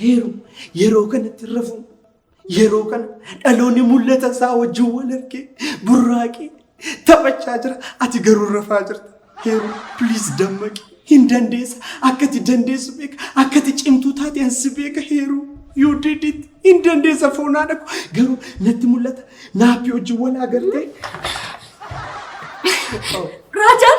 Heeru yeroo kanatti hin rafu. Yeroo kana dhaloonni mul'ata isaa wajjin wal argee burraaqee taphachaa jira. Ati garuu rafaa jirta. Heeru please dammaqi. Hin dandeessa. Akka ati dandeessu beeka. Akka ati cimtuu taate ansi beeka heeru. You did it. Hin dandeessa foonaa dhaqu. Garuu natti mul'ata. Naappi wajjin wal agartee. Raajaan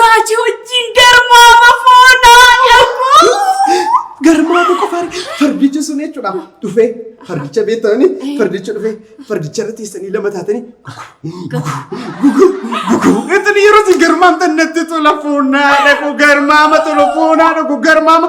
Raaji wajjin garmaama foonaa garmaama. Garmaama qofa fardichi sun jechuudha. Dhufee fardicha beektanii fardicha dhufee fardicha irra teessanii lama taatanii Ittiin yeroo si garmaamtan natti tola foonaa dhaqu garmaama tola foonaa dhaqu garmaama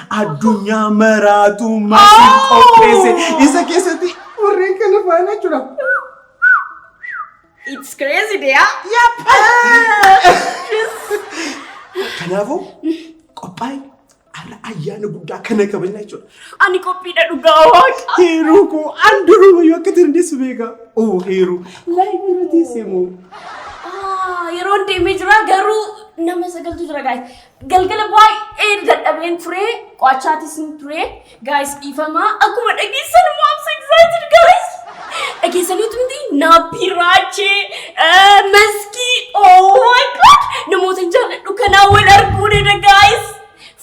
addunyaa maraatu maaliif qopheesse isa keessatti warreen kana faana jira. It's crazy dear. Kanaafuu qophaa'e har'a ayyaana guddaa kana kabajna jechuudha. Ani qophiidha dhugaa waaqa. Heeruu koo an duruma yoo akka dandeessu beeka. Oo heeruu laayif irra teessee moo. Ah, Yeroon deemee jira garuu nama sagaltu jira gaa'e. Galgala baay'ee dadhabeen ture qo'achaatis hin ture gaayis dhiifama akkuma dhageessan immoo I'm so excited gaayis dhageessaniitu miti naapii raachee eh, maskii oh my god namoota hin jaalladhu kanaa wal arguu dha gaayis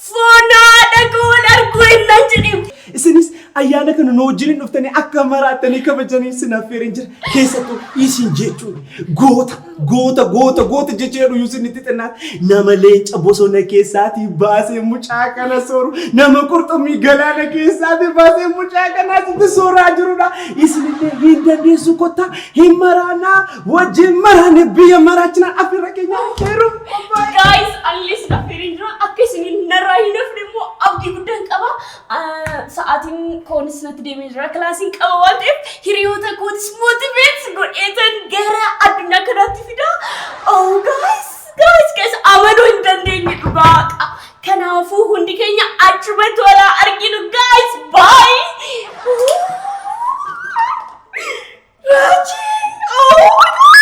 foonaa dhagoo wal arguu ennaan jedhee Isinis ayyaana kana nu wajjin dhuftanii akka maraattanii kabajanii isin affeereen jira. Keessattuu isin jechuun goota. Goota goota goota jecha jedhu yuusin itti xinnaa nama leenca bosona keessaatii baasee mucaa kana sooru nama qurxummii galaana keessaatii baasee mucaa kana asitti sooraa jirudha. Isinillee hin dandeessu kottaa hin maraanaa wajjin maraanee biyya maraachinaa afirra keenya heeruuf qophaa'e. Guys, unless affeerin jira akka isiniin narraa hin hafne immoo abdii guddaan qaba. Sa'aatiin koonis natti deemee jira. Kilaasiin qaba waan ta'eef hiriyoota kootis mootiveet godheetan gara addunyaa kanaatti fida. Oh guys, guys, guys, amaluu hin dandeenye dhugaa. Kanaafuu hundi keenya achumatti wal haa arginu guys. Bye. Raajii, oh my God.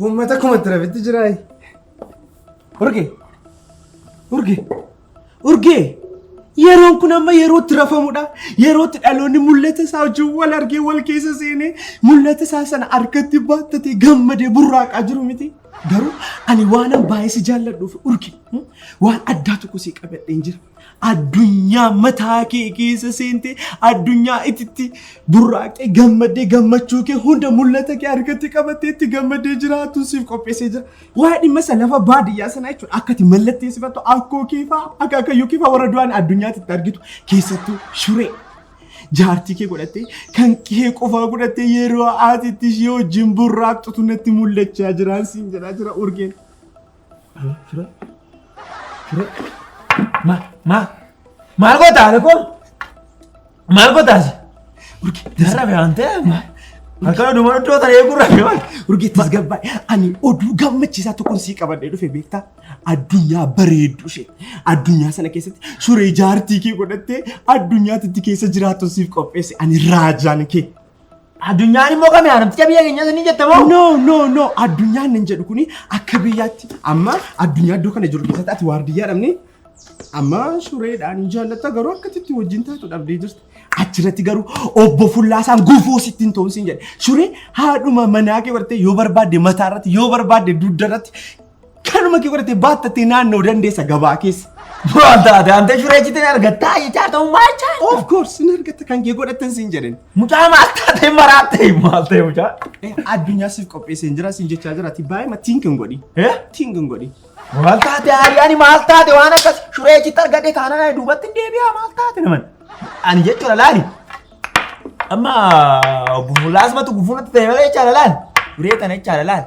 Uummata kuma tirafitti jiraayi. Urge! Urge! Urge! Yeroon kun amma yerootti rafamudha. Yerootti dhaloonni mul'ata isaa wajjin wal argee wal keessa seenee mul'ata isaa sana harkatti baattatee gammadee burraaqaa jiru miti. Garuu ani waanan baay'ee si jaalladhuuf urge waan addaa tokko si qabadheen jira. Addunyaa mataa kee keessa seentee addunyaa ititti burraaqxee gammaddee gammachuu kee hunda mul'ata kee harkatti qabattee itti gammaddee jiraatun siif qopheessee jira. Waa'ee dhimma isa lafa baadiyyaa sanaa jechuudha akka itti mallatteessifattu akkoo kee fa'aa akka akayyuu kee fa'aa warra du'an addunyaatti itti argitu keessattuu shuree. Jaartii kee godhattee kan kee qofaa godhattee yeroo ati itti ishee wajjin burraaqxutu natti mul'achaa jiraan siin jedhaa jira urgeen. Fira. Fira. Ma. Ma. Maal gootaa alakoo? Maal gootaas? Jarra beekan ta'e ma. Akka dhuma iddoo ta'e eegurra beekan. Urgeettis gabbaa ani oduu gammachiisaa tokkoon sii qabadhee dhufe beektaa addunyaa bareedduu ishee addunyaa sana keessatti suree jaartii kee godhattee addunyaatti keessa jiraattu siif qopheesse ani raajaan kee. Addunyaan immoo kami haramticha biyya keenya ni jetta moo? No no no addunyaan nan jedhu kuni akka biyyaatti amma addunyaa iddoo kana jiru keessatti ati waardiyyaa dhabne amma sureedhaan hin jaallatta garuu akkatti itti wajjin taatu dhabdee jirti. Achirratti garuu obbo Fullaasaan gufuu sitti hin ta'uun siin jedhe. Suree haadhuma manaa kee bartee yoo barbaadde mataa irratti yoo barbaadde dugda irratti Kanuma kee godhatee baattattee naannoo dandeessa gabaa keessa. Maal taate antee shuree jitee argattaa jechaa ta'uu maal chaa? Of course hin argatta kan kee godhattan siin jedhen. Mucaa maal taate maraattee maal ta'e mucaa? Addunyaa siif qopheessee hin jira siin jechaa jira ati baay'ee matiin kan godhi. Tiin kan godhi. Maal taate hariyaani maal taate waan akkas shuree jitti argadhee kaanana duubatti hin deebi'aa maal taate naman. Ani jechuudha laali. Amma gufuu laasmatu gufuu natti ta'e malee jechaadha laali. Shuree tana jechaadha laali.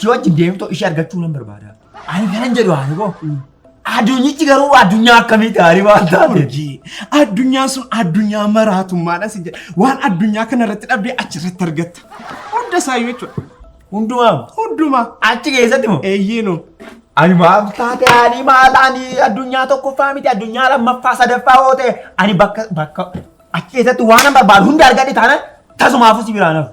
Si wajjin deemtoo ishee argachuu nan barbaada. Ani kanan jedhu Haariboo. Addunyichi garuu addunyaa akkamii gaarii waan taate. Urjii addunyaa sun addunyaa maraatummaadha si jedha. Waan addunyaa kana irratti dhabdee achi irratti argatta. Hunda isaayyuu jechuudha. Hundumaa Hundumaa. achi keessatti moo? Eeyyeenu. Ani maal taate ani maal ani addunyaa tokkoffaa miti addunyaa lammaffaa sadaffaa yoo ta'e ani bakka bakka achi keessatti waan an barbaadu hunda argadhe taana tasumaafuu si biraan hafu.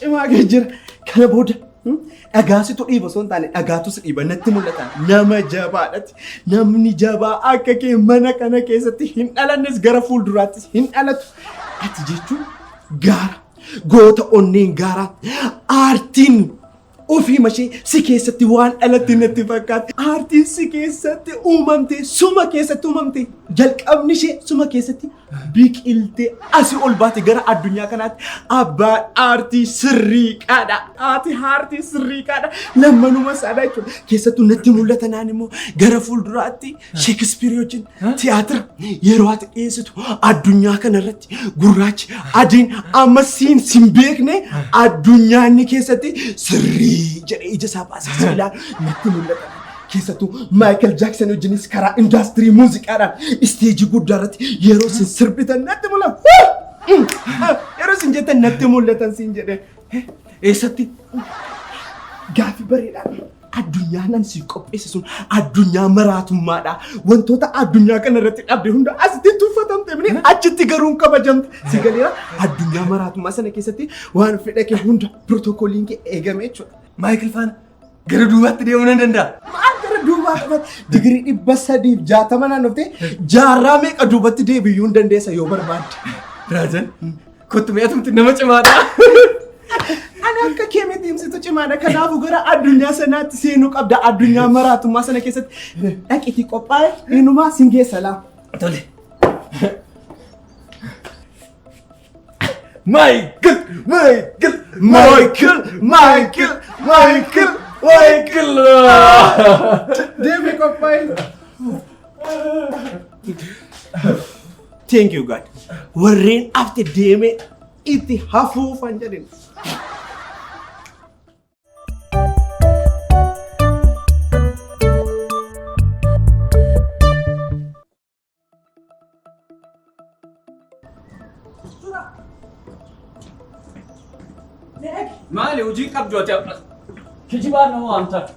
Cimaa kee jira. Kana booda dhagaasitu dhiiba osoo hin taane dhagaatus dhiiba natti mul'ata. Nama jabaadhati. Namni jabaa akka kee mana kana keessatti hin dhalannes gara fuulduraattis hin dhalatu. Ati jechuun gaara. Goota onneen gaaraa. Aartiin Ofii mashee si keessatti waan dhalatti natti fakkaatti. Aartiin si keessatti uumamte, suma keessatti uumamte. Jalqabni ishee suma keessatti biqiltee asi ol baate gara addunyaa kanaatti abbaan aartii sirrii qaadha. Haati aartii sirrii qaadha. Lammanuma saadha jechuudha. Keessattuu natti mul'ata naan immoo gara fuulduraatti Sheekispiirii wajjin tiyaatira yeroo ati dhiyeessitu addunyaa kana irratti gurraachi adiin amma siin sin beekne addunyaa inni keessatti sirrii jedhee ija isaa baasee si ilaalu natti mul'ata. Keessattuu Maayikal Jaaksan wajjinis karaa indaastirii muuziqaadhaan isteejii guddaa irratti yeroo sin sirbitan natti mul'ata. Yeroo sin jettan natti mul'atan sin jedhe. Eessatti? Gaaffii bareedaadha. Addunyaa nan siif qopheesse sun addunyaa maraatummaadha. Wantoota addunyaa kana irratti dhabde hunda asitti tuffatamte bine achitti garuu hin kabajamte. Si galeera addunyaa maraatummaa sana keessatti waan fedha kee hunda pirootokooliin kee eegame jechuudha. Maayikil faana gara duubaatti deemuu nan danda'a. Maal gara duubaa kanatti digirii dhibba sadiif jaatama naannoftee jaarraa meeqa duubatti deebiyyuu hin dandeessa yoo barbaadde. Raajan Kottu mee atumti nama cimaadha. Ani akka kee miti himsitu cimaadha. Kanaafuu gara addunyaa sanaatti seenuu qabda. Addunyaa maraatummaa sana keessatti dhaqiitii qophaa'e inumaa sin geessa laa. Tole. Michael, Michael, Michael, Michael, Michael, Michael. Deemee qophaa'e. Thank you God. Warreen afti deemee itti hafuufan jedhin. Maali hojii qabdu ati amma? Kijibaa nama waamtaa.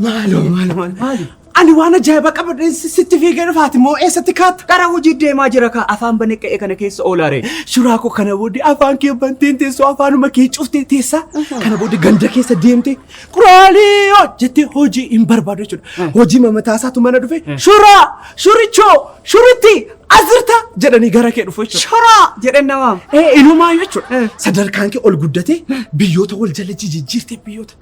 Maaloo maaloo maaloo. Ani waan ajaa'ibaa qabadheen si- sitti fiigee dhufaati moo eessatti kaatta? Gara hojii deemaa jira kaa afaan banee qe'ee kana keessa oolaare. Suuraa koo kana booddee afaan kee banteen teessoo afaanuma kee cuftee teessaa kana booddee ganda keessa deemtee quraalii hoo jettee hojii hin barbaadu jechuudha. Hojii mamataa isaatu mana dhufe shuraa shurichoo shuritti asirta jedhanii gara kee dhufu jechuudha. Shoraa jedheen namaa. Ee inumaa jechuudha. Sadarkaan kee ol guddatee biyyoota wal jala jijjiirtee biyyoota.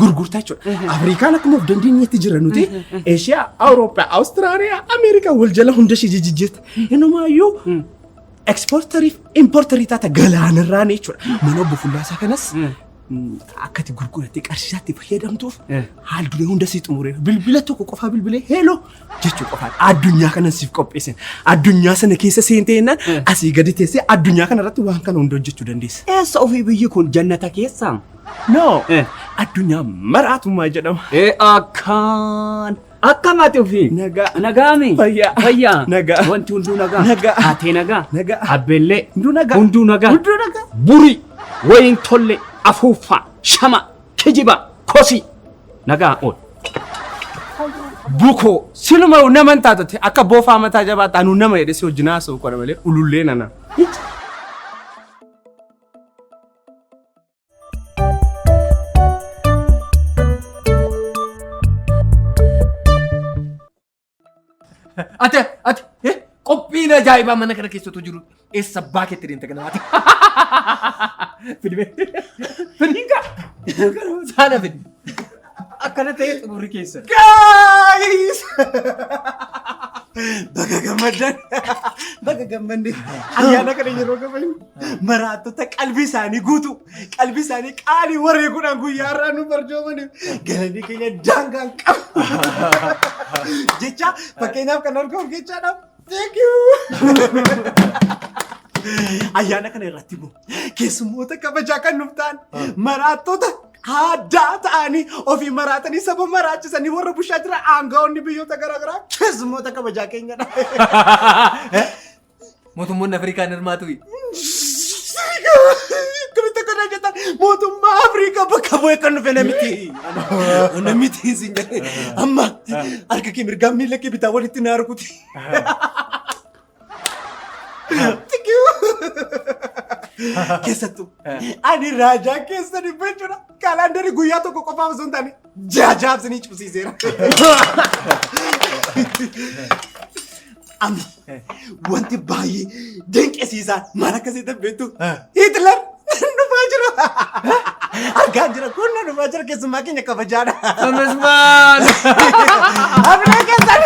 gurgurtaa jechuudha. Afrikaan akkuma of dandeenyetti jira nuti Eeshiyaa, Awurooppaa, Awustiraaliyaa, Ameerikaa wal jala hunda ishee jijjiirta. Inumaayyuu ekspoortariif importarii taata galaanirraan jechuudha. Mana obbo Fullaasaa kanas akka itti gurgurattee qarshiisaatti fayyadamtuuf haal duree hunda sii xumureera. Bilbila tokko qofaa bilbilee heeloo jechuu qofaan addunyaa kanan siif qopheessan addunyaa sana keessa seentee jennaan asii gadi teessee addunyaa kana irratti waan kana hunda hojjechuu dandeessa. Eessa ofii biyyi kun jannata keessaa? No Eh. addunyaa maraatumaa jedhama. Ee akkaan. Akkam ati ofii? Nagaa. Nagaami. Fayyaa. Fayyaa. Nagaa. Wanti hunduu nagaa. Nagaa. Haatee nagaa. Nagaa. Abbellee. Hunduu nagaa. Hunduu nagaa. Hunduu nagaa. Burii. Wayiin tollee. Afuuffaa. Shama. Kijibaa. Kosii. Nagaa ool. Bukoo. Siluma nama hin taatu akka boofaa mataa jabaatti anuu nama jedhe si wajjin haasa'u qora malee ulullee nana. Ati ati eh, qophiin ajaa'ibaa mana kana keessattuu jiru eessa abbaa keetti deemte kana ati. Fidimee. Fidinka. Saana fidi. Akkana ta'ee xumurri keessa. Guys! Baga gammaddan. Baga gammadde. Ayyaana kana yeroo gabayu. maraattota qalbii isaanii guutuu qalbii isaanii qaalii wareeguudhaan guyyaa har'aa nu barjoomaniif galanii keenya daangaan qabu jecha fakkeenyaaf kan argamu jechaadha. Thank you. Ayyaana kana irratti immoo keessummoota kabajaa kan nuuf ta'an maraattota aadaa ta'anii ofii maraatanii saba maraachisanii warra bushaa jiran aangawoonni biyyoota garaagaraa keessummoota kabajaa keenyadha. Mootummoonni Afrikaa hin hirmaatuuyi. Akkamitti akka irraa jettan mootummaa Afrikaa bakka bu'ee kan dhufe namitti. Namitti isin jedhe amma harka kee mirgaa miila kee bitaa walitti na arguti. Keessattuu ani raajaa keessa dhibba jechuudha. Kaalaandarii guyyaa tokko qofaaf osoo hin taane Jaajaaf sinii cubsiiseera. Ami wanti baay'ee dinqisiisaa maal akka si beektu Hitler dhufaa jira. Argaa jira kun na dhufaa jira keessumaa keenya kabajaadha. Amazmaan! Abinaa keessan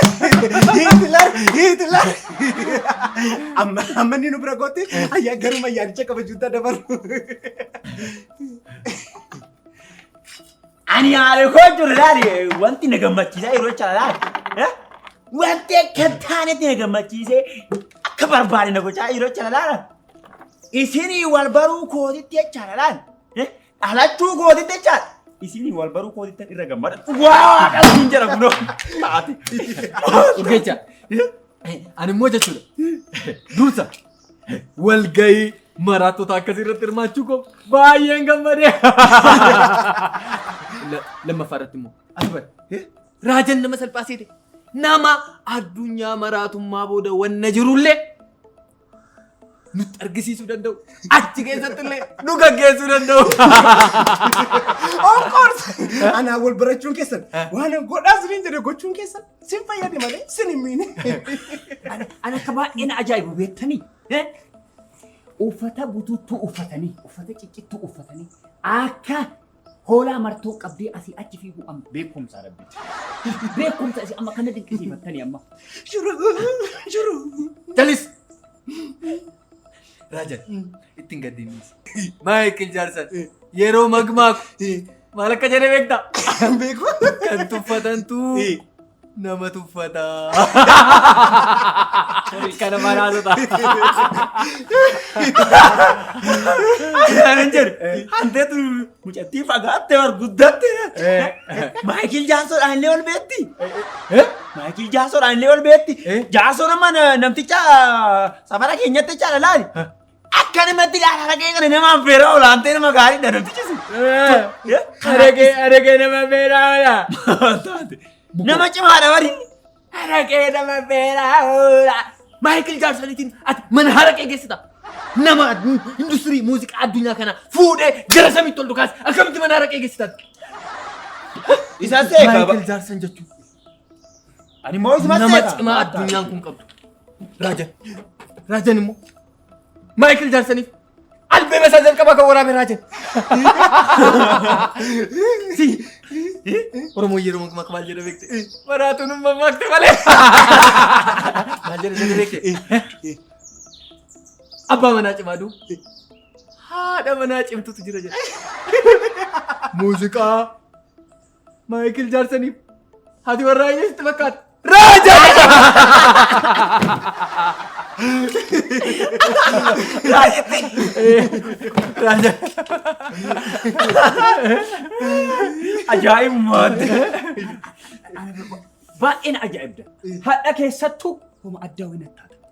Hitler Hitler. Amma amma inni nu bira gootti ayyaa garuma yaadicha kabajuutti dabalu. Ani haala koo jiru ilaali wanti na gammachiisaa yeroo jecha ilaali. Eh? Wanti akka hin taanetti na gammachiisee akka barbaade na gochaa yeroo jecha ilaala. Isinii wal baruu kootitti jecha ilaali. Eh? Dhalachuu kootitti jecha isinii wal baruu kootitti irra gammada. Waa waaqa siin jira kunoo. Ati. Urgeecha. Ani immoo jechuudha. Dursa. Walgahii maraattota akkasii irratti hirmaachuu koo baay'een gammadee. Lammaffaa irratti immoo as bari. Raajan nama salphaa seete. Nama addunyaa maraatummaa booda wanna jirullee nutti argisiisuu danda'u. Achi keessatti illee nu gaggeessuu danda'u. Of course! Anaa wal barachuun keessan waan godhaa siniin jedhe gochuun keessan Sin fayyade malee sin hin miine. Ani ani akka baay'ee na ajaa'ibu beektanii? Eh? Uffata butuuttuu uffatanii, uffata ciccittuu uffatanii akka hoolaa martoo qabdee asii achi fiiguu amma beekumsa rabbi. Beekumsa isin amma kana dinqisiifattanii amma. Jiru jiru. Jalis! Raajan itti hin gaddinniis. Maayikil Jaarsan yeroo magmaaku maal akka jedhe beekta? Beeku. Kan tuffatantu nama tuffata. Kana manaasota. Kan hin jedhu hanteetu mucattii fagaattee bar guddatte. Maayikil Jaarsoodhaan illee ol beetti. Maayikil Jaarsoodhaan illee ol beetti. Jaarsoon amma na- namticha Safara keenyatti caala laali. Akkanumatti laala dhagee kana nama affeera olaantee nama gaarii dha nuti cisu. Aragee aragee nama beeraa oola. Nama cimaadha bari. Aragee nama beeraa oola. Maayikil Jaarsoniitiin ati mana haraqee geessita. Nama industirii muuziqaa addunyaa kana fuudhee gara samiitti ol dhukaase akkamitti mana haraqee geessita? Isaan seekaa ba- Maayikil Jaarson jechuun Ani immoo isuma Nama seeta. cimaa addunyaan kun qabdu. Raajan. Raajan immoo. Maayikil Jaaksaniif. Albeema isaa jalqabaa kan waraabe Raajan. Si. Oromoo yeroo maqmaq maal jedha beekte? Maraatuun umma maqte malee. Maal jedha jedha beekte? Abbaa manaa cimaa duu. Haadha manaa cimtutu jira jedha. Muuziqaa. Maayikil Jaarsaniif haati warraa ishee sitti fakkaata. Raaja! Raaja! Ajaa'ibummaa! Baay'een ajaa'ibda. Hadha keessattuu homa addaa wayii natti taata.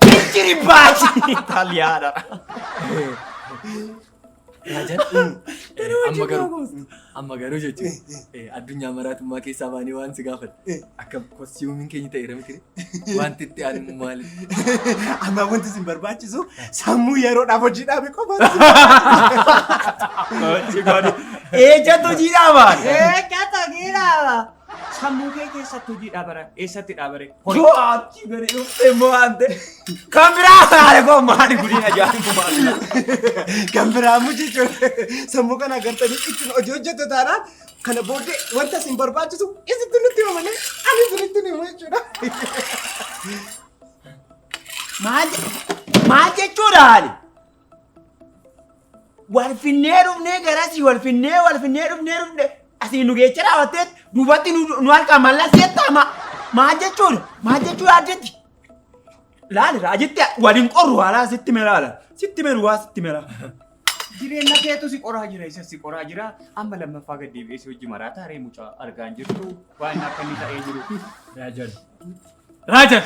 Picture baci italiana. Amma garuu amma garuu jechuun addunyaa maraatummaa keessaa baanii waan si gaafadhe akka kostiiwumiin keenya ta'eera miti wanti itti aanu maali? Amma wanti isin barbaachisu sammuu yeroodhaaf hojii dhaabe qofa. Ejjatu jiidhaa baali. Ejjatu jiidhaa baali. Sammuu kee keessatti hojii dhaabara. Eessatti dhaabare? Horii. Yoo achi gadi dhufte immoo ante kan biraa haala koo maali gudina ajaa'ibaa maali. Kan biraa immoo jechuun sammuu kana agartanii ittiin hojii hojjettu taanaan kana booddee wanta isin barbaachisu isitti nutti hima malee ani isinitti himu jechuudha. Maal maal jechuudha haali? Wal finnee dhufnee garasii wal finnee wal finnee dhufnee dhufnee asii nu geecha raawwattee duubatti nu nu halkaa mallas jettaa ma maal jechuudha maal jechuu yaaddetti. Laali raajitti waliin qorru haalaa sitti melaala sitti meluwaa sitti melaa. Jireenya keetu si qoraa jira isa si qoraa jira amma lammaffaa gad deebi'ee si hojii maraa taaree mucaa argaan jirtu waan akka inni ta'ee jiru. Raajan. Raajan.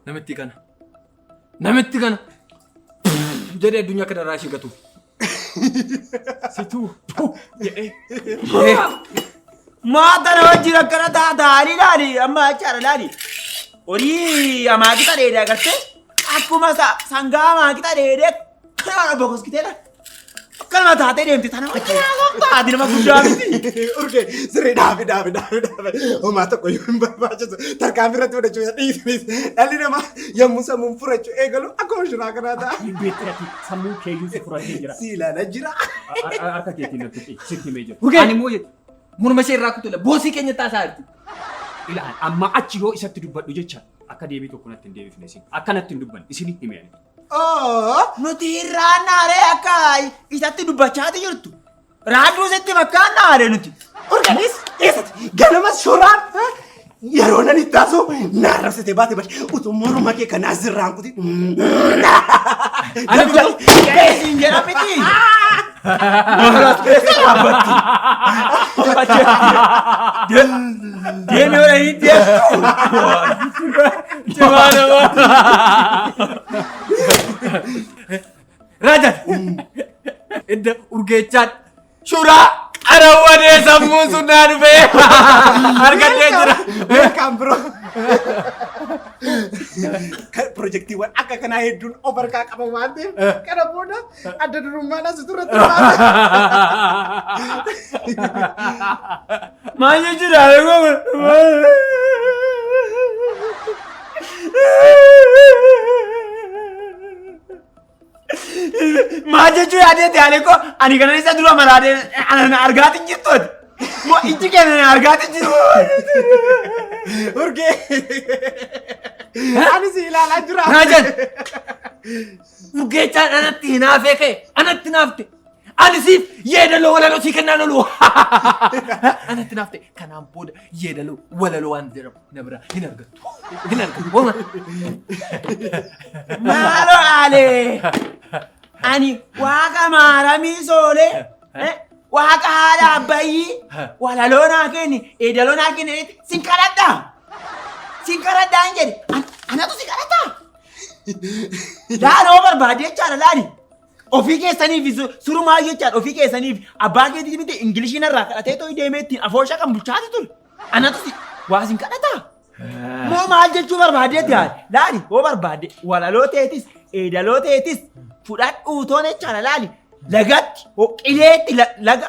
Namitti kana. Namitti kana. Jedhee addunyaa kana irraa ishee gatu. Situu. Jedhee. Maata na wajjin akkana taataanii laali amma achaara laali. Horii amaakita dheedee agartee akkuma sangaa amaakita dheedee kana bokoskitee laali. Akkanuma taatee deemti tana haati nama guddaa miti. Urge sirrii dhaabi dhaabi dhaabi dhaabi homaa tokko yoo hin barbaachisu tarkaanfii irratti fudhachuu isa dhiisnis dhalli namaa yommuu sammuun furachuu eegalu akkuma shiraa kanaa ta'a. Beektirafi sammuu keeyyuu si furatee jira. Si ilaala jira. Harka keetiin natti sitti himee jira. Urge ani immoo morma ishee irraa kutula boosii keenya taasaa jirti. Ilaal amma achi yoo isatti dubbadhu jecha akka deebii tokko natti hin deebifne isin akkanatti hin dubban isin hin himee. Nuti hin raannaaree akka isatti dubbachaati jirtu. Raadduu sitti fakkaannaare nuti. Urganis eessatti ganama shoraan yeroo nan itti haasoo naan rabsitee baate bari utuu morma kee kanaa zirraan kuti. Ani kun jedha miti. Deemi yoo dhahin Cimaa namaa. Rajan. Edda urgeechaan shuraa. Arawwadee sammuun sun naa dhufee. Argadhee jira. Welcome bro. Kan Pirojektiiwwan akka kanaa hedduun of harkaa qaba waan ta'eef kana booda Adda durummaan asitu irratti Maal jechuudha? Maal jechuu yaadeeti Aleeko? Ani kana isa dura maraadee ana na argaati jirtu ati. Moo ijji keenya na argaati jirtu. Urgee. Ani si ilaalaa jira. Naa jedhe. Urgeechaan anatti hinaafee kee anatti hinaafte. Ani siif yeedaloo walaloo sii kennaan oolu. Anatti hinaafte. Kanaan booda yeedaloo walaloo waan jedhamu na biraa hin argattu. Hin argattu. Hooma. Maaloo aalee. Ani waaqa maaramii soolee. eh, Waaqa haadha abbayyii. Walaloo naa kenni. Eedaloo naa kenni. Sin kadhadhaa. Sin kadhadhaa hin jedhe. An- Anatu si kadhataa. Laaloo barbaade jechaadha laali. Ofii keessaniif su- surumaa jechaadha ofii keessaniif abbaa keetii miti ingilishii narraa kadhatee too deemee ittiin afoosha kan bulchaati ture. Anatu si waa sin kadhataa. Moo maal jechuu barbaadeetti haali? Laali hoo barbaade walaloo teetis eedaloo teetis fudhadhuu toon jechaadha laali. Lagatti hoo qileetti la- laga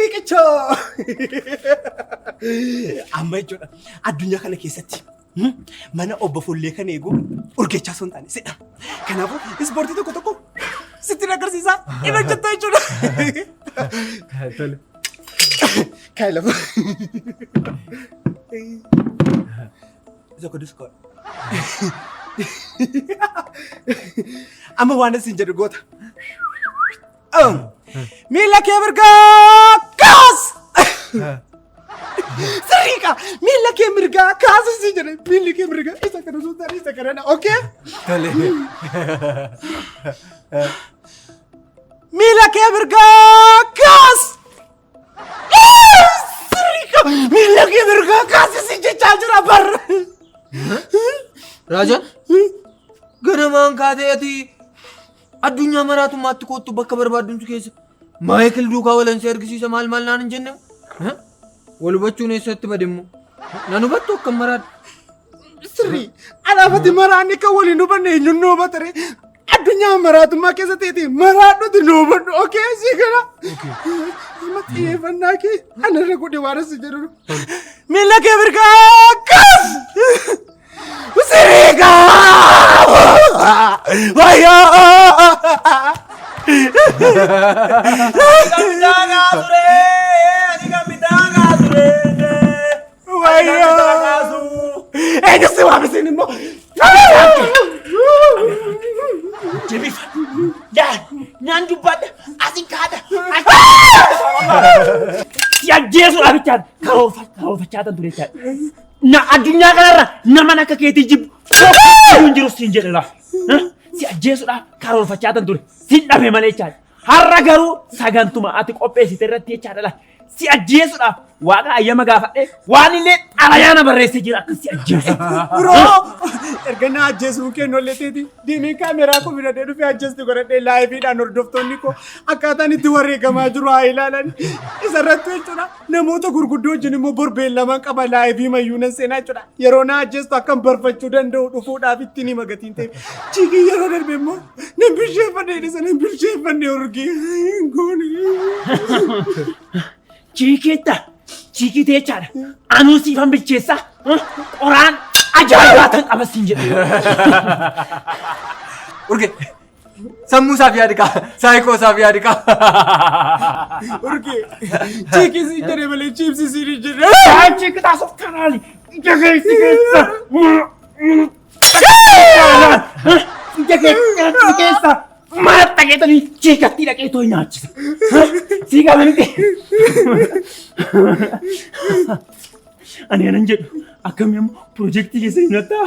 Riqichoo! Amma jechuudha addunyaa kana keessatti hmm, mana obbo Fullee kan eegu urgechaa osoo hin taane sidha. Kanaafuu ispoortii tokko tokko sitti agarsiisaa hin hojjetta jechuudha. Kai lafa. Isa kun diskoon. Amma waan isin jedhu goota. Miila kee mirgaa kaas! Sirriiqa! Miila kee mirgaa kaas isin jedhe. Miilli kee mirgaa isa kana osoo taane isa kana. Okay? Tole. Miila kee mirgaa kaas! Miila kee mirgaa kaas isin jechaa jira barra! Raajaan ganamaan kaatee ati addunyaa maraatummaatti koottu bakka barbaaddumtu keessa Maayikil duukaa walansi argisiisa maal maal naan hin jenne wal hubachuun eessatti bademmoo nan hubattu akkam maraadha. Sirrii alaafati maraanni kan waliin hubanne eenyuun nu hubatare addunyaa maraatummaa keessa ta'eeti maraadhuti nu hubadhu okee sii kana. Amma xiyyeeffannaa kee anarra godhe waan asi jedhu. Miila kee mirgaa akkas. Sirrii kaa. Wayyaa. Midhagaa ture! Ani kan midhagaa ture! Eega si waamisiin immoo. Jabifadhu. Yaa naan dubbaadha. Asi kaadha. Si ajjeesuudhaa bichaan karoorfachaa tan ture jechaadha. Na addunyaa kanarra naman akka keetii jibbu tokko hin jiru siin jedhe laaf. Si ajjeesuudhaa karoorfachaa tan ture. Siin dhabe malee jechaadha. Har'a garuu sagantuma ati qopheessite irratti jechaa dhala. Si ajjeesuudhaaf waaqa ayyama gaafadhee waan illee xalayaana barreessee jira akka si ajjeesu. Biroo erga na ajjeesuun kennu illee teeti deemee kaameraa koo bira dhufee ajjeestu godhadhee laayiviidhaan hordoftoonni koo akkaataan itti wareegamaa jiru haa ilaalan. Isa irratti jechuudha namoota gurguddoo wajjin immoo borbeen lamaan qaba laayivii mayyuu nan seenaa jechuudha. Yeroo na ajjeestu akkan barfachuu danda'u dhufuudhaaf ittiin hima gatiin ta'e. Chiikiin yeroo darbe immoo Nan bilcheeffadhe jedhe nan bilcheeffanne urgee hin goone. Chiikeetta chiikitee jechaadha. Anuu siifan bilcheessaa qoraan ajaa'ibaa tan qaba siin jedhe. Urgee sammuu isaaf yaadi qaba saayikoo isaaf yaadi qaba. Urgee chiikii siin jedhe malee chiipsii siin hin jedhe. Chiikitaa sofkanaali ija keessa keessa. Biyya kee nyaachuu keessa maal dhageetanii ciikattii dhaqee too nyaachisa. Sii qaba miti. Ani anan jedhu akkamii ammoo pirojektii keessa hin hattaa.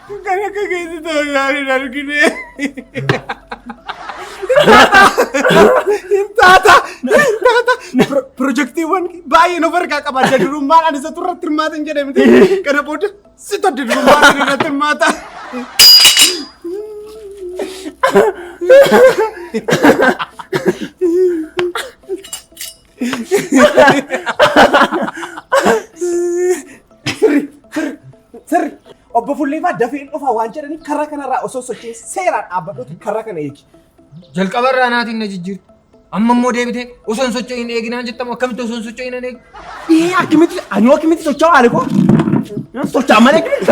Kan akka keessa ta'u isaan hin argine. Hin taata! Hin taata! Pro- Pirojektiiwwan baay'ee nu bargaa qaba. Adda durummaan ani isatu irratti hirmaata hin jedhe miti. Kana booda situ adda durummaan ani irratti hirmaata. Sirri obbo Fulleefaa dafeen dhufaa waan jedhaniif karra kanarraa osoo sochee seeraan dhaabbadhuuti karra kana eegi. Jalqaba irraa naatiin na jijjiiru. Amma immoo deebitee osoo hin socho'in hin eeginaan jettamu akkamitti osoo hin socho'in hin eegu? Ee akkamitti ani akkamitti socho'aa alikoo? Socho'aa malee akkamitti?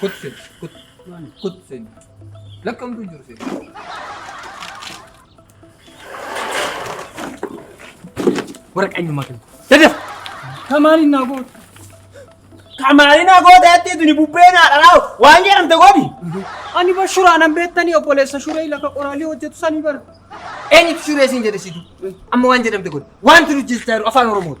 Kutsin. Kut. Kutsin. Lakkamtu jiru sin. Waraqaa eenyummaa kennu. Dadaf. Kamaaliin naa goote. Kamaaliin naa goote jettee tuni bubbee naa dhalaa waan jedhamte godhi. Ani bar shuraan an beektanii obboleessa shuree lafa qoraalii hojjetu sanii bara. Eenyutu shuree siin jedhe situ. Amma waan jedhamte godhi. Waan turu jechaa jiru afaan Oromooti.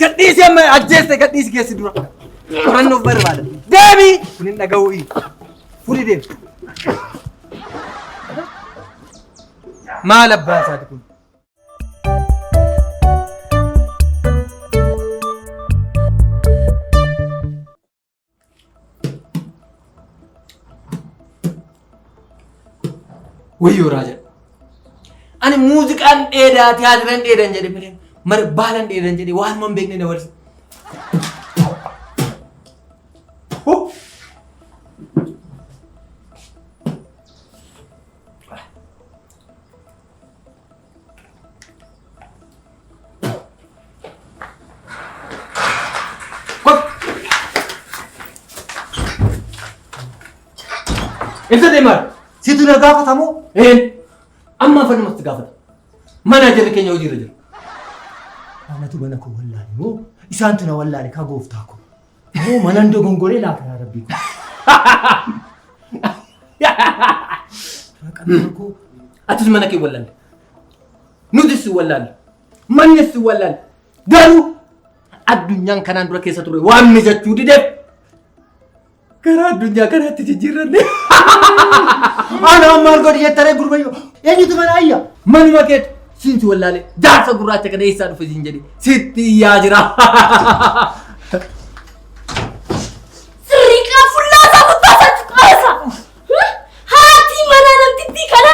Gadhiisi amma ajjeesse gadhiisi keessi dura. Qorannoof barbaada. Deemi! Kun hin dhaga'uu iyyu. Fudhi deemi. Maal abbaa isaati kun? Wayyoo raaja. Ani muuziqaan dheedaa tiyaatiran dheedan jedhe malee mar baalan dheedan jedhe waan man beekne na walisa. Ibsa deemaa. Situ na gaafata moo? Ee. Amma afaan namatti gaafata. Mana jirri keenya hojiirra jira. Anatu mana koo wallaale moo isaantu na wallaale kaa gooftaa koo. Moo manan dogongoree laata yaa rabbii koo. Maqaan koo atis mana kee wallaale. Nutis si wallaale. Mannis si wallaale. Garuu addunyaan kanaan dura keessa ture waan mijachuu dideef gara addunyaa kanaatti jijjiirranne. Ana maal godhi jettaree gurbayyoo. Eenyutu mana ayya? Manuma keetu. Siinti wallaalee jaarsa gurraacha kana eessaa dhufe siin jedhe sitti iyyaa jira. Sirriiqaa fullaasaa gubbaasaa cuqaasaa. Haatii manaa namtittii kana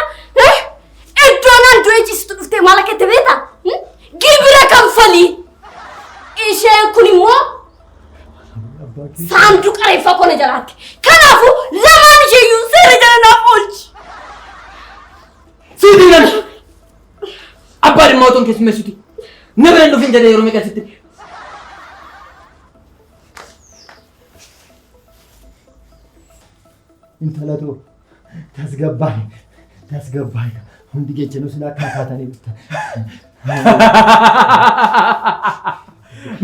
iddoo naan du'ee ciistu dhuftee maal akka itti beekta? Gibira kanfalii. Isheen kun immoo saanduqa reeffaa kona jalaatti. Kanaafuu lamaan isheeyyuu seera jala naaf oolchi. Siiti nana. Abbaa dhimma otoo hin keessummeessuti. Nama hin dhufin jedhee yeroo meeqa sitti. Intala too tasgabbaa'e tasgabbaa'e hundi jechanuu silaa akka kaatanii dhuftan.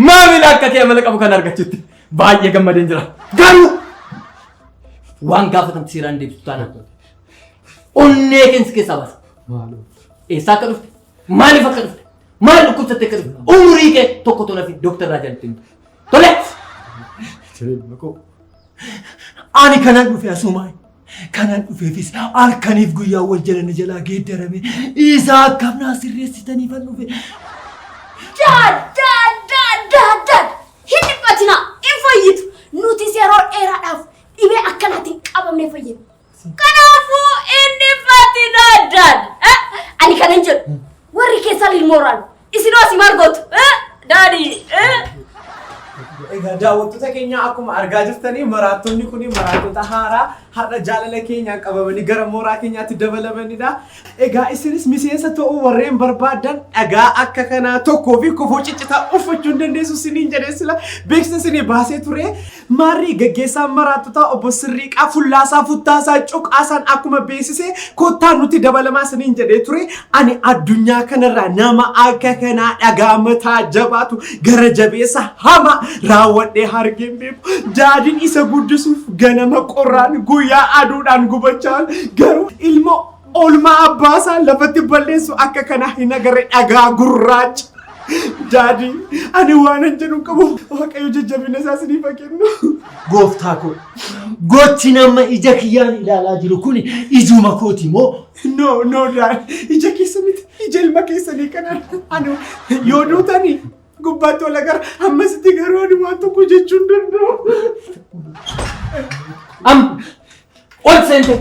Maamila akka kee amala qabu kan argachutti baay'ee gammadeen jira. Garuu waan gaafatamte seeraan deebisu taanaan. Onnee keessa keessaa baasa. Maaloo. Eessaa akka dhufte? Maaliif akka dhufte? Maal dhukkubsatte akka dhufte? Umurii kee tokko tola fi dooktar Raajaa ittiin dhufte. Tole! Jireenya koo. Ani kanan dhufe asumaan. Kanan dhufeefis halkaniif guyyaa wal jalana jalaa geeddarame isaa akkam naa sirreessitaniif an dhufe. Daad, daad, daad, daad, daad. Hin dhiphatinaa, hin fayyitu. Nutis yeroo dheeraadhaaf dhibee akkanaatiin qabamnee fayyina. Kanaafuu inni fati daadaan. Ani kana hin jedhu. Warri keessan ilmooraan. Isin hoos maal gootu? Daadii. Egaa daawwattoota keenya akkuma argaa jirtanii maraattonni kun maraattota haaraa har'a jaalala keenyaan qabamanii gara mooraa keenyaatti dabalamanidha. Egaa isinis miseensa ta'uu warreen barbaadan dhagaa akka kanaa tokkoo fi kofoo ciccitaa uffachuu hin dandeessu isiniin jedhee sila beeksisa isinii baasee ture. Maarree gaggeessaan maraattotaa obbo Sirriiqaa fullaasaa futtaasaa cuqaasaan akkuma beeksisee kottaa nutti dabalamaa isiniin jedhee ture ani addunyaa kanarraa nama akka kanaa dhagaa mataa jabaatu gara jabeessa hama raawwadhee hargeen beeku daadin isa guddisuuf ganama qorraan guyyaa aduudhaan gubachaan garuu ilmoo Oolmaa abbaa isaa lafatti balleessu akka kanaa hin agarre dhagaa gurraacha. Daadii ani waan hin jedhu qabu waaqayyo jajjabina isaa isiniif haa kennu. Gooftaa koo gochi nama ija kiyyaan ilaalaa jiru kun ijuma kooti moo? No no daad ija keessa miti ija ilma keessanii kanaan ani yoo duutanii gubbaatti wal agarra ammasitti garuu ani waan tokko jechuun danda'u. Am ol seente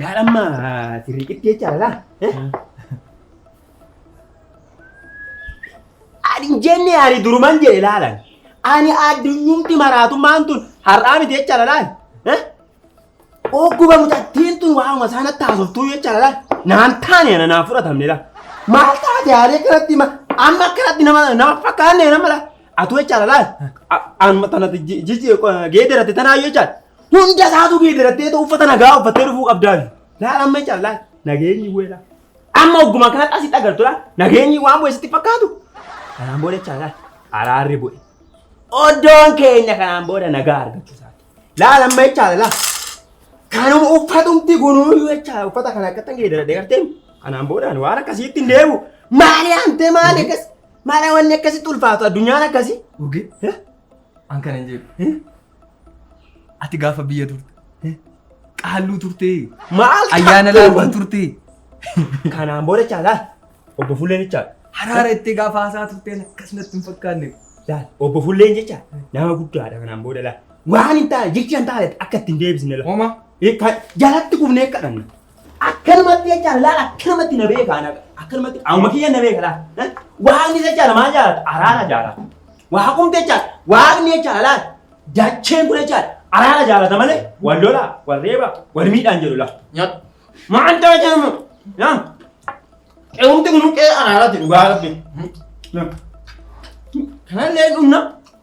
Yaadamma sirriiqitti jecha lala. Ani hin jenne ani duruman jedhe laalan. Ani addunyumti maraatummaan tun har'aa miti jecha lalaan. Ogguba mucattiin tun waanuma isaan natti haasoftuu jecha lalaan. Naan taane ana naan fudhatamne laa. Maal taate yaadee kanatti amma akkanatti nama fakkaanne nama laa. Atuu jechaadha laal. Anuma tana geeddaratti tanaa jechaan hunda isaatu geeddarattee ta'u uffata nagaa uffattee dhufuu qabdaa. Laal amma jechaadha laal nageenyi weelaa. Amma ogguma kanatti asitti agartu laal nageenyi waan bu'e sitti fakkaatu. Kanaan booda jechaadha laal araarri bu'e. Oddoon keenya kanaan booda nagaa argachuu isaati. Laal amma jechaadha laal. Kanuma uffatumti gunuuyuu jechaadha uffata kana akkatti geeddaradhee gartee kanaan boodaan waan akkasiitti hin deemu. Maali hantee maali akkas. Maadha wanni akkasitti ulfaatu addunyaan akkasi. Urgee an kana hin jedhu. Ati gaafa biyya turte qaalluu turte Maal ayyaana laafaa turte Kanaan booda caalaa obbo Fulleen jechaa. haraara itti gaafa haasaa turte akkasumatti hin fakkaanne. Laal obbo Fulleen jechaa nama guddaadha kanaan booda laal. Waan hin taane jecha hin taane akka itti hin deebisne laal. Homa Jalatti kufnee kadhanna. akkanumatti jechaadha laala akkanumatti na beeka ana akkanumatti qaama kiyya na beeka laala Eh? waaqni jechaadha maal jaalata araara jaalata waaqumti jechaadha waaqni jechaadha laala dacheen kun jechaadha araara jaalata malee wal lolaa wal reeba wal miidhaan jedhu laala Nyaata. maal ta'e jedhamu yaa qe'umti kun qe'ee araaraati dhugaa rabbi kanallee dhumna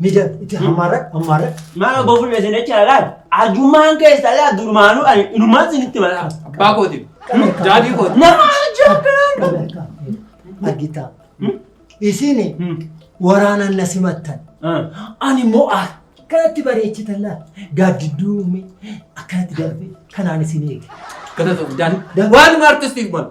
Miidhaa itti hammaarra hammaarra. Maal gofu meeshaan jecha laal. Arjummaan keessaa laal durmaanuu ani inumaan isinitti malaa. Abbaa kootiif. Daadhii kooti. Nama jaabbiraan. Argitaa. Isiin waraanaan na simattan. Ani immoo akkanatti bareechitan laal. Gaaddidduu uumee akkanatti darbee kanaan isin eege. Kana ta'u daadhii. Waan artistiif malu.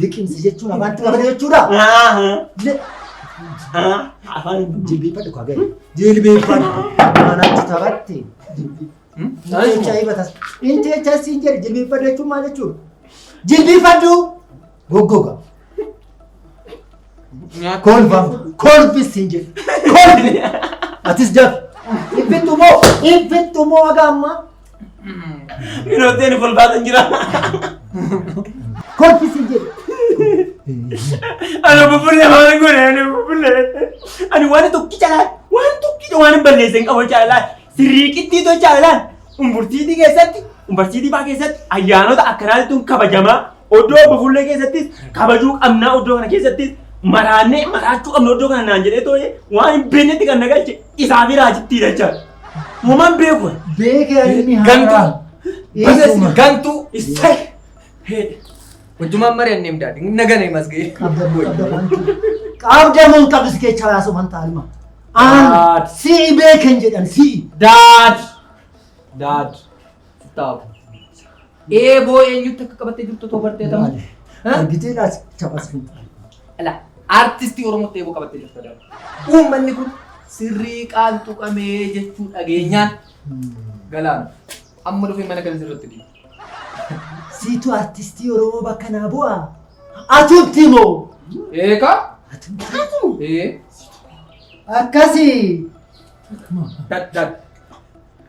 Liqimsi jechuun afaanti nama jechuudha. Afaan jilbeeffadhu kaa gadi. Jilbeeffadhu. Maanaatti taphatte. Jecha hibatas. Inni jecha siin jedhe jilbeeffadhu jechuun maal jechuudha? Jilbeeffadhu. Goggoga. Nyaata. Kolfa. Kolfi siin jedhe. Kolfi. Atis jafi. Ibbittu moo. Ibbittu moo haga ammaa. Minooteen kolfaa kan jira. Kolfi siin jedhe. Ani bubbullee waan godhe ani bubbullee. Ani waan tokki caalaa waan tokki waan hin balleesse hin qabu caalaa sirrii qixxii too caalaa umburtiitii keessatti umbarsiitii baa keessatti ayyaanota akkanaatti tun kabajamaa Oddoo obbo Fuullee keessattis kabajuu qabnaa oddoo kana keessattis maraannee maraachuu qabna oddoo kana naan jedhee too'ee waan hin beeknetti kan na galche isaa fi raajittii dachaa. Uumaan beeku. Beekee alimni Gantuu. haaraa. Baga isin Eessuma. gantuu. Issay. Hojjumaan mari'an neem daadhi. Nagana himas ga'e. Qabda mun qabis kecha raasu man taalima. Aan Daad. si'i beeken jedhan si'i. Daad. Daad. Taa'u. Eeboo eenyutti akka qabattee jirtu otoo bartee tamu. Argitee laas taphaas hin taane. Ala artistii Oromootti eeboo qabattee jirtu adama. Uummanni kun sirrii qaal tuqamee jechuu dhageenyaan galaana. Amma dhufee mana kan sirratti dhiibu. Siitu artistii Oromoo bakka naa bu'a. Atumti moo? Eegaa? Atumti. Ee. Akkasii. Dad dad.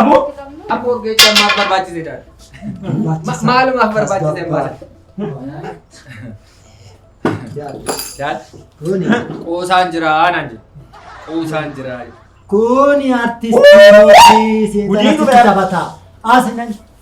Aboo. Aboo geecha maaf barbaachise daal. Maalumaaf barbaachise maal. Daal. Qoosaan jira aanaan jira. Qoosaan jira. Kuni artistii mootii Gudiin seexanatti dhufe. taphataa. Asinan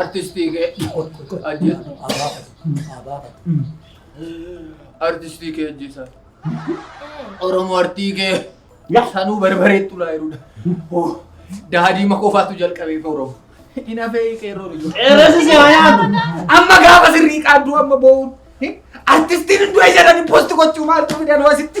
artistii kee ajja artistii kee ajjisa oromoo artii kee sanuu barbaree tulaa jirudha daadii makoofaatu jalqabee oromoo hin hafee qeerroon iyyuu Qeerroosi si haa yaadu. amma gaafa sirrii qaaddu amma boo'uun artistiin hunduu eeyyadanii posti gochuu maaltu fidan wasitti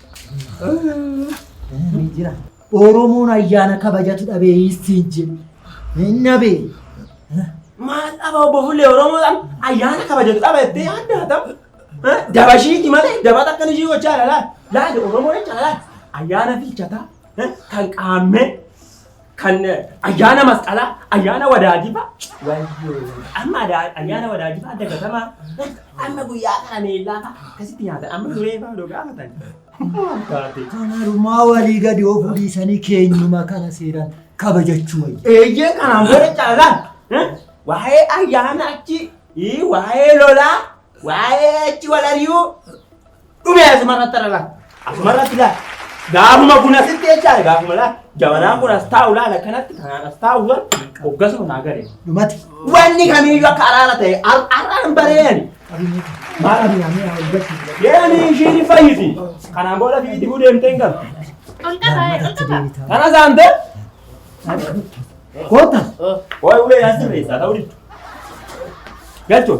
Ni jira. Oromoon ayyaana kabajatu dhabee hiistiin jedhu. Hin dhabee. Maal dhaba obbo Fuullee Oromoodhaan ayyaana kabajatu dhaba jettee yaadda haa ta'u. Dabashiiti malee dabata akkan ishii gochaa dha laal. Laal Oromoo jecha laal. Ayyaana fiichataa kan qaammee kan ayyaana masqalaa, ayyaana wadaajifaa, wayyoo, amma adaa- ayyaana wadaajifaa dagatamaa, amma guyyaa kana meellaa fa'a akkasitti nyaatan, amma duree fa'a odoo gaafatan. Maal taate? Kanaarumaa walii gadi of dhiisanii keenyuma kana seeraan kabajachuu wayya. Eeyyee kanaan booda caalaa eh, waa'ee ayyaana achi, ii, waa'ee lolaa, Waa'ee achi wal ari'uu dhume asumarratti irra laa. Asumarratti laa. Gaafuma kun asitti jechaadha gaafuma laa. Jabanaan kun as taa'u laal akkanatti kanaan as taa'u laal hoggasuma naa gale. Dhumati. Wanni kamiyyuu akka araara ta'e ar- arraan bareeyani. Maal ani ani ani hojjetu. Deemanii ishii ni fayyisi. Kanaan booda fi dibuu deemtee hin galu. Kana saantee Koota. waa'ee ulee naan sirreessaa ta'uu diddu. Galchoo.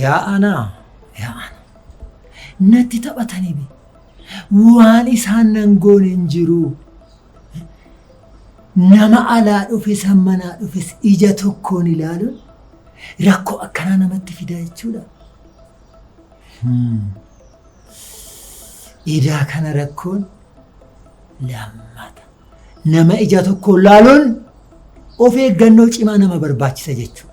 Yaa anaa, yaa ana. Natti taphatanii waan isaan nan goone hin jiru. Nama alaa dhufes kan manaa dhufes ija tokkoon ilaaluun rakkoo akkanaa namatti fidaa jechuudha. Edaa kana rakkoon lammata. Nama ija tokkoon laaluun of eeggannoo cimaa nama barbaachisa jechuudha.